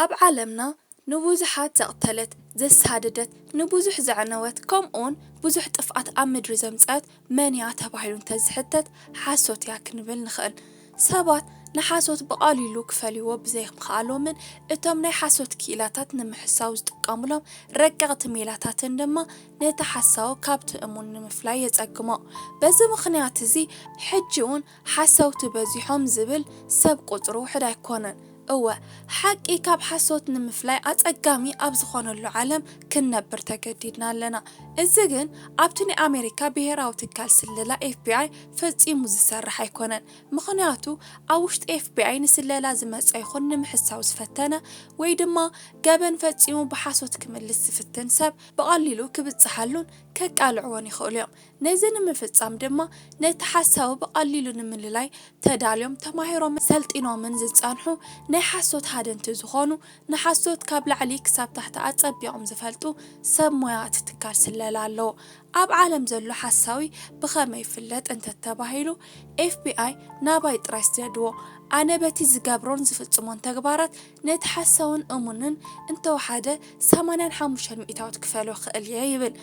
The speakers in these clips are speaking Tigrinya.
ኣብ ዓለምና ንብዙሓት ዘቕተለት፣ ዘሳደደት፣ ንብዙሕ ዘዕነወት፣ ከምኡውን ብዙሕ ጥፍኣት ኣብ ምድሪ ዘምጸኣት መን እያ ተባሂሉ እንተ ዝሕተት፣ ሓሶት እያ ክንብል ንኽእል። ሰባት ንሓሶት ብቐሊሉ ክፈልይዎ ብዘይምኽኣሎምን እቶም ናይ ሓሶት ክኢላታት ንምሕሳው ዝጥቀሙሎም ረቀቕቲ ሜላታትን ድማ ነቲ ሓሳዊ ካብቲ እሙን ንምፍላይ የጸግሞ። በዚ ምኽንያት እዚ ሕጂ እውን፣ ሓሰውቲ በዚሖም ዝብል ሰብ ቁጽሪ ውሕድ ኣይኮነን። እወ ሓቂ ካብ ሓሶት ንምፍላይ ኣጸጋሚ ኣብ ዝኾነሉ ዓለም ክንነብር ተገዲድና ኣለና። እዚ ግን ኣብቲ ናይ ኣሜሪካ ብሄራዊ ትካል ስለላ ኤፍቢኣይ ፈጺሙ ዝሰርሕ ኣይኮነን። ምኽንያቱ ኣብ ውሽጢ ኤፍቢኣይ ንስለላ ዝመጸ ይኹን ንምሕሳው ዝፈተነ ወይ ድማ ገበን ፈጺሙ ብሓሶት ክምልስ ዝፍትን ሰብ ብቐሊሉ ክብጽሓሉን ከቃልዕዎን ይኽእሉ እዮም። ነዚ ንምፍፃም ድማ ነቲ ሓሳዊ ብቐሊሉ ንምልላይ ተዳልዮም፣ ተማሂሮምን ሰልጢኖምን ዝፀንሑ ናይ ሓሶት ሃደንቲ ዝኾኑ፣ ንሓሶት ካብ ላዕሊ ክሳብ ታሕቲ ኣፀቢቖም ዝፈልጡ ሰብ ሞያ እቲ ትካል ስለላ ኣለዉ። ኣብ ዓለም ዘሎ ሓሳዊ ብኸመይ ይፍለጥ እንተተባሂሉ፣ FBI ናባይ ጥራይ ስደድዎ፣ ኣነ በቲ ዝገብሮን ዝፍፅሞን ተግባራት ነቲ ሓሳውን እሙንን እንተወሓደ ሰማንያን ሓሙሽተን ሚእታዊት ክፈልዮ እኽእል እየ ይብል።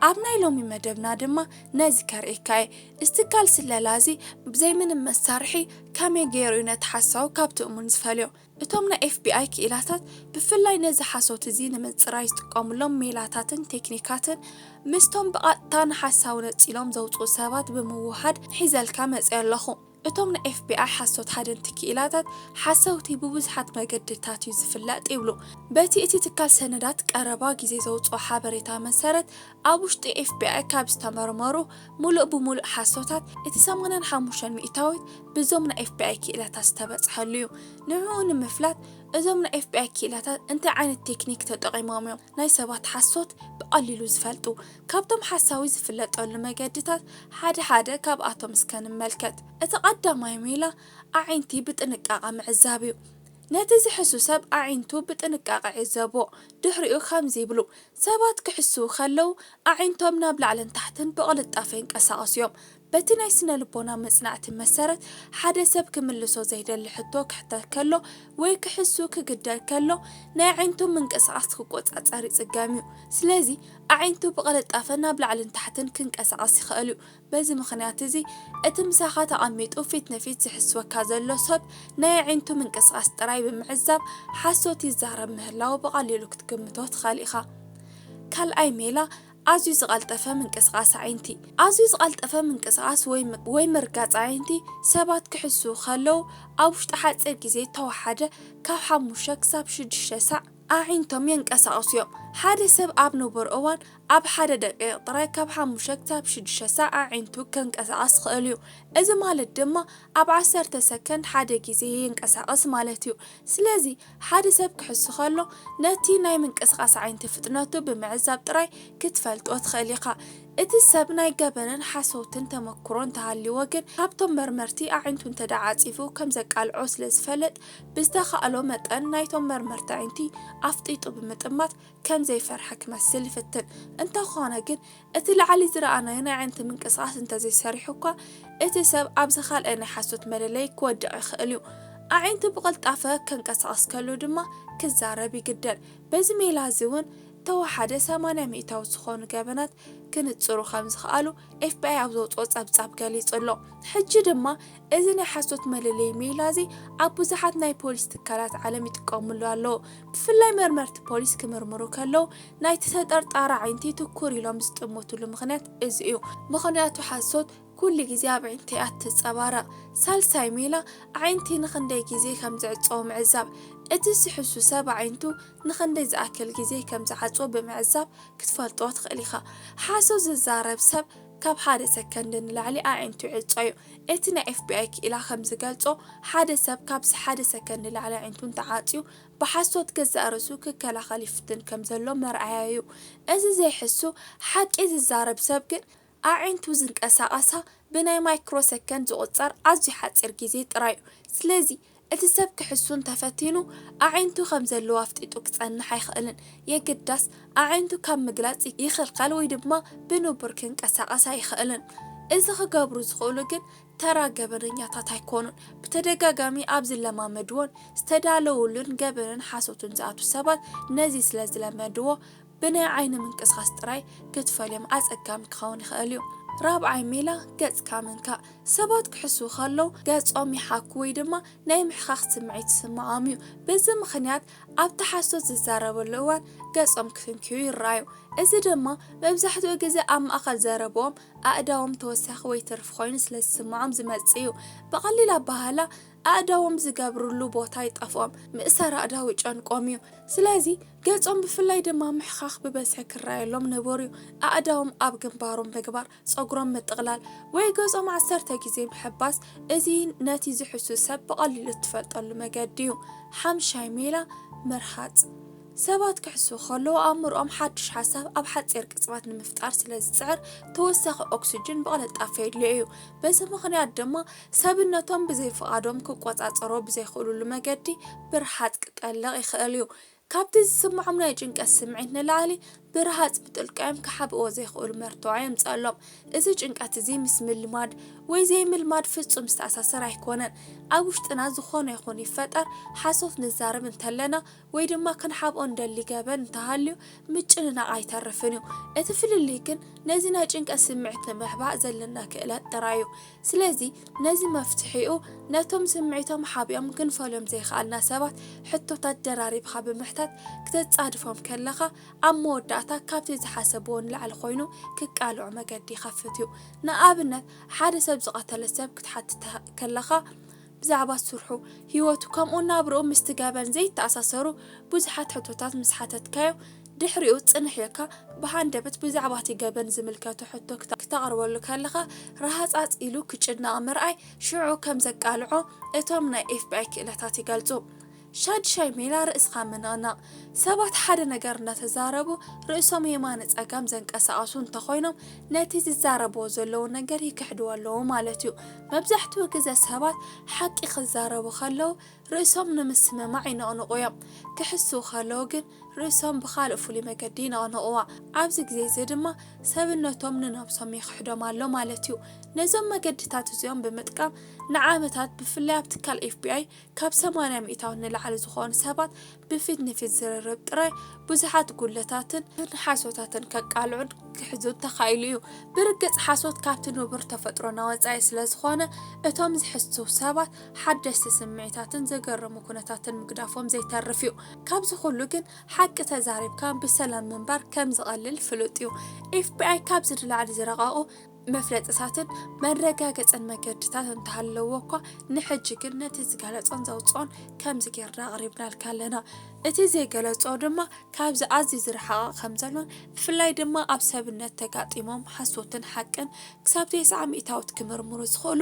ኣብ ናይ ሎሚ መደብና ድማ ነዚ ከርእየካ እየ። እዚ ትካል ስለላ እዚ ብዘይ ምንም መሳርሒ ከመይ ገይሩ እዩ ነቲ ሓሳዊ ካብቲ እሙን ዝፈልዮ? እቶም ናይ ኤፍቢኣይ ክኢላታት ብፍላይ ነዚ ሓሶት እዚ ንምጽራይ ዝጥቀሙሎም ሜላታትን ቴክኒካትን ምስቶም ብቐጥታ ንሓሳዊ ነጺሎም ዘውጽኡ ሰባት ብምውህሃድ ሒዘልካ መጺኣ ኣለኹ። እቶም ናይ ኤፍቢኣይ ሓሶት ሃደንቲ ክኢላታት ሓሰውቲ ብብዙሓት መገድታት እዩ ዝፍለጥ ይብሉ። በቲ እቲ ትካል ሰነዳት ቀረባ ግዜ ዘውጽኦ ሓበሬታ መሰረት ኣብ ውሽጢ ኤፍቢኣይ ካብ ዝተመርመሩ ምሉእ ብምሉእ ሓሶታት እቲ ሰማንያን ሓሙሽተን ሚእታዊት ብዞም ናይ ኤፍቢኣይ ክኢላታት ዝተበጽሐሉ እዩ። ንዕኡ ንምፍላጥ እዞም ናይ ኤፍቢኣይ ክኢላታት እንታይ ዓይነት ቴክኒክ ተጠቒሞም እዮም ናይ ሰባት ሓሶት ብቐሊሉ ዝፈልጡ? ካብቶም ሓሳዊ ዝፍለጠሉ መገድታት ሓደ ሓደ ካብኣቶም እስከ ንመልከት። እቲ ቀዳማይ ሜላ ኣዒንቲ ብጥንቃቐ ምዕዛብ እዩ። ነቲ ዝሕሱ ሰብ ኣዒንቱ ብጥንቃቐ ዕዘቦ፣ ድሕሪኡ ከምዚ ይብሉ፣ ሰባት ክሕስዉ ከለዉ ኣዒንቶም ናብ ላዕልን ታሕትን ብቕልጣፈ ይንቀሳቐሱ እዮም። በቲ ናይ ስነ-ልቦና መጽናዕቲ መሰረት፣ ሓደ ሰብ ክምልሶ ዘይደሊ ሕቶ ክሕተት ከሎ ወይ ክሕሱ ክግደድ ከሎ፣ ናይ ኣዒንቱ ምንቅስቓስ ክቆጻጸር ይጽገም እዩ። ስለዚ ኣዒንቱ ብቕልጣፈ ናብ ላዕልን ታሕትን ክንቀሳቐስ ይኸእል እዩ። በዚ ምኽንያት እዚ፣ እቲ ምሳኻ ተቐሚጡ ፊት ንፊት ዝሕስወካ ዘሎ ሰብ ናይ ኣዒንቱ ምንቅስቓስ ጥራይ ብምዕዛብ ሓሶት ይዛረብ ምህላዉ ብቐሊሉ ክትግምቶ ትኸእል ኢኻ። ካልኣይ ሜላ፣ ኣዝዩ ዝቐልጠፈ ምንቅስቓስ ኣዒንቲ። ኣዝዩ ዝቐልጠፈ ምንቅስቓስ ወይ ምርጋጽ ኣዒንቲ ሰባት ክሕስዉ ከለዉ ኣብ ውሽጢ ሓጺር ግዜ እተወሓደ ካብ ሓሙሽተ ክሳብ ሽዱሽተ ሳዕ ኣዒንቶም የንቀሳቕሱ እዮም። ሓደ ሰብ ኣብ ንቡር እዋን ኣብ ሓደ ደቒቕ ጥራይ ካብ ሓሙሽተ ክሳብ ሽዱሽተ ሳዕ ኣዒንቱ ከንቀሳቕስ ይኽእል እዩ፣ እዚ ማለት ድማ ኣብ ዓሰርተ ሰከንድ ሓደ ግዜ የንቀሳቕስ ማለት እዩ። ስለዚ። ሓደ ሰብ ክሕሱ ከሎ ነቲ ናይ ምንቅስቓስ ዓይንቲ ፍጥነቱ ብምዕዛብ ጥራይ ክትፈልጦ ትኽእል ኢኻ። እቲ ሰብ ናይ ገበንን ሓሰውትን ተመኩሮ እንተሃልይዎ ግን ካብቶም መርመርቲ ኣዒንቱ እንተድኣ ዓጺፉ ከም ዘቃልዖ ስለ ዝፈለጥ ብዝተኻእሎ መጠን ናይቶም መርመርቲ ኣዒንቲ ኣፍጢጡ ብምጥማት ከም ዘይፈርሐ ክመስል ይፍትን። እንተኾነ ግን እቲ ላዕሊ ዝረኣናዮ ናይ ኣዒንቲ ምንቅስቓስ እንተዘይሰሪሑ እኳ፣ እቲ ሰብ ኣብ ዝኻልኣይ ናይ ሓሶት መለለዪ ክወድቕ ይኽእል እዩ። ኣዒንቱ ብቕልጣፈ ከንቀሳቕስ ከሎ ድማ ክዛረብ ይግደድ። በዚ ሜላ እዚ እውን እተወሓደ ሰማንያ ሚእታዊ ዝኾኑ ገበናት ክንጽሩ ከም ዝኸኣሉ ኤፍቢኣይ ኣብ ዘውጽኦ ጸብጻብ ገሊጹ ኣሎ። ሕጂ ድማ እዚ ናይ ሓሶት መለለዪ ሜላ'ዚ ኣብ ብዙሓት ናይ ፖሊስ ትካላት ዓለም ይጥቀምሉ ኣለዉ። ብፍላይ መርመርቲ ፖሊስ ክምርምሩ ከለዉ ናይቲ ተጠርጣሪ ኣዒንቲ ትኩር ኢሎም ዝጥምትሉ ምኽንያት እዚ እዩ። ምኽንያቱ ሓሶት ኩሉ ግዜ ኣብ ኣዒንቲ እያ እትጸባረቕ። ሳልሳይ ሜላ፣ ኣዒንቲ ንኽንደይ ግዜ ከም ዝዕጸዉ ምዕዛብ። እቲ ዝሕሱ ሰብ ኣዒንቱ ንኽንደይ ዝኣክል ግዜ ከም ዝዓጽዎ ብምዕዛብ ክትፈልጦ ትኽእል ኢኻ። ሓሶት ዝዛረብ ሰብ ካብ ሓደ ሰከንድ ንላዕሊ ኣዒንቱ ይዕጾ'ዩ። እቲ ናይ ኤፍቢኣይ ክኢላ ከም ዝገልጾ፣ ሓደ ሰብ ካብዚ ሓደ ሰከን ንላዕሊ ኣዒንቱ እንተዓጽዩ፣ ብሓሶት ገዛእ ርእሱ ክከላኸል ይፍትን ከም ዘሎ መርኣያ'ዩ። እዚ ዘይሕሱ ሓቂ ዝዛረብ ሰብ ግን፣ ኣዒንቱ ዝንቀሳቐሳ ብናይ ማይክሮ ሰከንድ ዝቑጸር ኣዝዩ ሓጺር ግዜ ጥራይ'ዩ። ስለዚ፣ እቲ ሰብ ክሕሱ እንተ ፈቲኑ፣ ኣዒንቱ ከም ዘለዎ ኣፍጢጡ ክጸንሕ ኣይክእልን። የግዳስ፣ ኣዒንቱ ካብ ምግላጽ ይኽልከል ወይ ድማ ብንቡር ክንቀሳቐስ ኣይኽእልን። እዚ ክገብሩ ዝኽእሉ ግን ተራ ገበነኛታት ኣይኮኑን። ብተደጋጋሚ ኣብ ዝለማመድዎን ዝተዳለዉሉን ገበንን ሓሶትን ዝኣትዉ ሰባት ነዚ ስለ ዝለመድዎ፣ ብናይ ዓይኒ ምንቅስቓስ ጥራይ ክትፈልዮም ኣጸጋሚ ክኸውን ይኽእል እዩ። ራብዓይ ሜላ፣ ገጽካ ምንካእ። ሰባት ክሕስዉ ከለዉ ገጾም ይሓኩ ወይ ድማ ናይ ምሕኻኽ ስምዒት ይስምዖም እዩ። በዚ ምኽንያት ኣብቲ ሓሶት ዝዛረበሉ እዋን ገጾም ክፍንክዩ ይረኣዩ። እዚ ድማ መብዛሕትኡ ግዜ ኣብ ማእከል ዘረብኦም ኣእዳዎም ተወሳኺ ወይ ትርፊ ኮይኑ ስለ ዝስምዖም ዝመጽእ እዩ። ብቐሊል ኣበሃህላ፣ ኣእዳዎም ዝገብርሉ ቦታ ይጠፍኦም፣ ምእሳር ኣእዳው ይጨንቆም እዩ። ስለዚ ገጾም ብፍላይ ድማ ምሕኻኽ ብበዝሒ ክረኣየሎም ንቡር እዩ። ኣእዳዎም ኣብ ግንባሮም ምግባር፣ ጸጉሮም ምጥቕላል፣ ወይ ገጾም ዓሰርተ ግዜ ምሕባስ፣ እዚ ነቲ ዝሕሱ ሰብ ብቐሊሉ እትፈልጠሉ መገዲ እዩ። ሓምሻይ ሜላ፣ ምርሃጽ። ሰባት ክሕሱ ከለዉ ኣእምሮኦም ሓድሽ ሓሳብ ኣብ ሓጺር ቅጽበት ንምፍጣር ስለ ዝጽዕር ተወሳኺ ኦክስጅን ብቕልጣፈ የድልዮ እዩ። በዚ ምኽንያት ድማ ሰብነቶም ብዘይ ፍቓዶም ክቆጻጸሮ ብዘይክእሉሉ መገዲ ብርሃጽ ክጠልቕ ይኽእል እዩ። ካብቲ ዝስምዖም ናይ ጭንቀት ስምዒት ንላዕሊ፣ ብርሃጽ ብጥልቀዮም ክሓብእዎ ዘይክእሉ መርትዖ የምጽኣሎም። እዚ ጭንቀት እዚ ምስ ምልማድ ወይ ዘይምልማድ ፍጹም ዝተኣሳሰር ኣይኮነን። ኣብ ውሽጥና ዝኾነ ይኹን ይፈጠር ሓሶት ንዛረብ እንተለና ወይ ድማ ክንሓብኦ እንደሊ ገበን እንተሃልዩ ምጭንናቕ ኣይተርፍን እዩ። እቲ ፍልልይ ግን ነዚ ናይ ጭንቀት ስምዒት ንምሕባእ ዘለና ክእለት ጥራይ እዩ። ስለዚ ነዚ መፍትሒኡ ነቶም ስምዒቶም ሓቢኦም ክንፈልዮም ዘይኸኣልና ሰባት ሕቶታት ደራሪብኻ ብምሕታት ክተጻድፎም ከለኻ ኣብ መወዳእታ ካብቲ ዝሓሰብዎ ንላዕሊ ኮይኑ ክቃልዑ መገዲ ይኸፍት እዩ። ንኣብነት ሓደ ሰብ ዝቐተለ ሰብ ክትሓትት ከለኻ፣ ብዛዕባ ስርሑ፣ ህይወቱ ከምኡውን ናብራኡ ምስቲ ገበን ዘይተኣሳሰሩ ብዙሓት ሕቶታት ምስ ሓተትካዮ፣ ድሕሪኡ ጽንሕ ኢልካ ብሃንደበት ብዛዕባ እቲ ገበን ዝምልከቶ ሕቶ ክተቕርበሉ ከለኻ ረሃጻጽ ኢሉ ክጭነቕ ምርኣይ ሽዑ ከም ዘቃልዖ እቶም ናይ ኤፍቢኣይ ክእለታት ይገልጹ። ሻድሻይ ሜላ ርእስኻ ምንቕናቕ። ሰባት ሓደ ነገር እናተዛረቡ ርእሶም የማነ ጸጋም ዘንቀሳቕሱ እንተኾይኖም ነቲ ዝዛረብዎ ዘለዉ ነገር ይክሕድዎ ኣለዉ ማለት እዩ። መብዛሕትኡ ግዘ ሰባት ሓቂ ክዛረቡ ከለዉ ርእሶም ንምስምማዕ ይንቕንቑ እዮም። ክሕስዉ ከለዉ ግን ርእሶም ብኻልእ ፍሉይ መገዲ ይንቕንቕዋ። ኣብዚ ግዜ እዚ ድማ ሰብነቶም ንነብሶም ይክሕዶም ኣሎ ማለት እዩ። ነዞም መገድታት እዚኦም ብምጥቃም ንዓመታት ብፍላይ ኣብ ትካል ኤፍቢኣይ ካብ ሰማንያ ሚእታዊት ንላዕሊ ዝኾኑ ሰባት ብፊት-ንፊት ዝርርብ ጥራይ ብዙሓት ጉድለታትን ሓሶታትን ከቃልዑን ክሕዙን ተኻኢሉ እዩ። ብርግጽ ሓሶት ካብቲ ንቡር ተፈጥሮና ወጻኢ ስለ ዝኾነ፣ እቶም ዝሕሱ ሰባት ሓደስቲ ስምዒታትን ዘገርሙ ኩነታትን ምግዳፎም ዘይተርፍ እዩ። ካብዚ ኩሉ ግን ሓቂ ተዛሪብካ ብሰላም ምንባር ከም ዝቐልል ፍሉጥ እዩ። ኤፍቢኣይ ካብዚ ንላዕሊ ዝረቐቑ መፍለጥታትን መረጋገጽን መገድታት እንተሃለዎ እኳ ንሕጂ ግን ነቲ ዝገለጾን ዘውጽኦን ከምዚ ጌርና ኣቕሪብናልካ ኣለና። እቲ ዘይገለጾ ድማ ካብዚ ኣዝዩ ዝረሓቐ ከም ዘሎን ብፍላይ ድማ ኣብ ሰብነት ተጋጢሞም ሓሶትን ሓቅን ክሳብ ቴስዓ ሚእታዊት ክምርምሩ ዝኽእሉ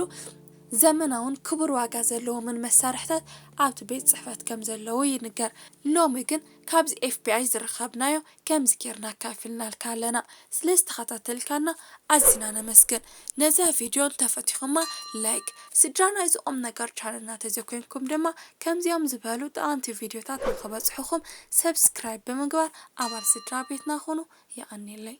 ዘመናውን ክቡር ዋጋ ዘለዎምን መሳርሕታት ኣብቲ ቤት ጽሕፈት ከም ዘለዉ ይንገር። ሎሚ ግን ካብዚ ኤፍቢኣይ ዝረኸብናዮ ከምዚ ጌርና ኣካፊልናልካ ኣለና ስለ ዝተኸታተልካና ኣዚና ነመስግን ነዛ ቪድዮ እንተ ፈቲኹማ ላይክ ስድራ ናይዚ ቁምነገር ቻነልና ተዘኮይንኩም ድማ ከምዚኦም ዝበሉ ጠቐምቲ ቪድዮታት ንኽበጽሑኹም ሰብስክራይብ ብምግባር ኣባል ስድራ ቤትና ኹኑ የቐኔለይ።